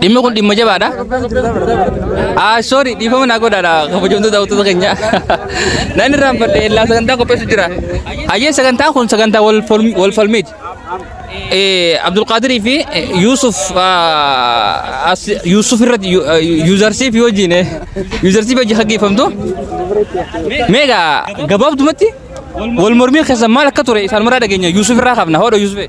Dhimmi kun dhimma jabaadha. Ah, sorry, dhiifama naa godhaadha. Kabajamtuu daawwattoota keenya. Nan irraanfadhe illaa sagantaa qopheessu jira. Hayyee sagantaa kun sagantaa wal falm- wal falmiiti. Eh, Abdulqaadirii fi eh, Yuusuf ah, as- Yuusuf irratti yu- ah, yuuzarsii fi hojiin eh, yuuzarsii fi hojii gaggeeffamtu. Meega gabaabdumatti wal mormii keessan maal akka ture isaan maraa dhageenya Yuusuf irraa qabna. Hoodha Yuusuf.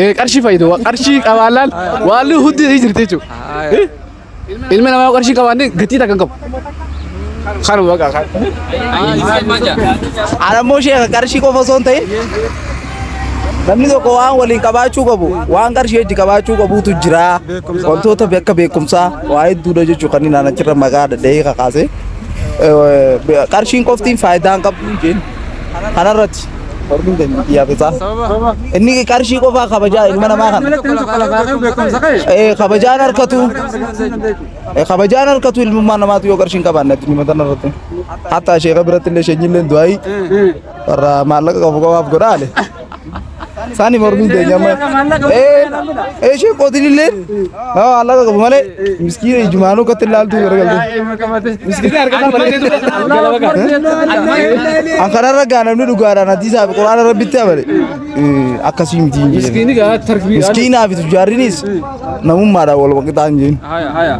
Eh, qarshii fayyadu Wa- qarshii qabaannaan waan hundi ni jirti jechuudha. Eh? Ilmi namaa yoo qarshii qabaanne gatii takka hin qabu. Kanuma baqa kan. Anammoo sheeka qarshii qofa osoo hin ta'in namni tokko waan waliin qabaachuu qabu waan qarshii hojii qabaachuu qabuutu jira wantoota akka beekumsaa waa hedduudha jechuudha kan inni achirra maqaa dadhee kakaase qarshiin qoftiin faayidaa hin qabdu hin jeen kanarratti Hormiin keenya miti yaa fixaa. Sababa. Inni qarshii qofaa kabajaa ilma namaa kana. Namni tokko lafaa lafaa qabu beekumsa qabu. Eh, kabajaan harkatu. Eh, kabajaan harkatu ilmummaa namaatu yoo qarshiin qabaanne addunyaa mataan irratti. Hatta sheeka biratti illee sheenyi illee du'aayi. Warra maallaqa qabu qabaaf godhaale. Saani mormiin keenya amma. Eh, eh, sheen qootiin illee. Haa allaqa qabu malee miskiina ijumaanuu katti ilaaltuu gara galtee. Miskiina argataa malee. An kanarra gaa namni dhugaadhaan hadiisaa fi quraana rabbitti amane akkasii miti hin jedhani. Miskiini gaa tarbii. Miskiinaa fi tujjaarrinis namummaadhaan wal qixaa hin jedhin. Haya haya.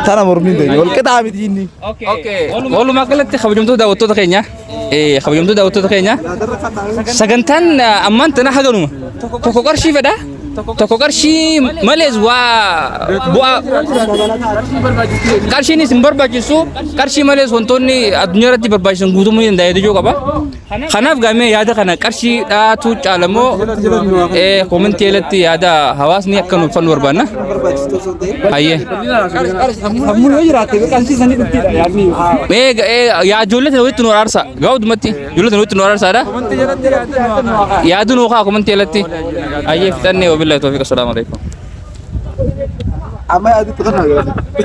Tana mormiin ta'e wal qixaa miti inni. Walumaa galatti kabajamtoota daawwattoota keenya. kabajamtuu daawwattoota keenya sagantaan ammaan tana haganuma tokko qarshii fedha tokko qarshii malees waa bu'aa qarshiinis hin barbaachisu qarshii malees wantoonni addunyaa irratti barbaachisan guutumuu ni danda'a jechuu qaba kanaaf gaamee yaada kana qarshii dhaatu caalamoo koomentii irratti yaada hawaasni akka nuuf fannu barbaanna. Hayyee. Sammuun yoo jiraatte qarshii sanii dhuftiidha yaadni. Mee ga- ee, yaa ijoollee tana walitti nu araarsaa. Gaa hundumatti ijoollee tana walitti nu araarsaadha. Yaaduu nu kaa komantii alatti. Hayyee fixannee wabillahi toofiqa salaamu alaikum. Amma yaadni tuqannaa yoo.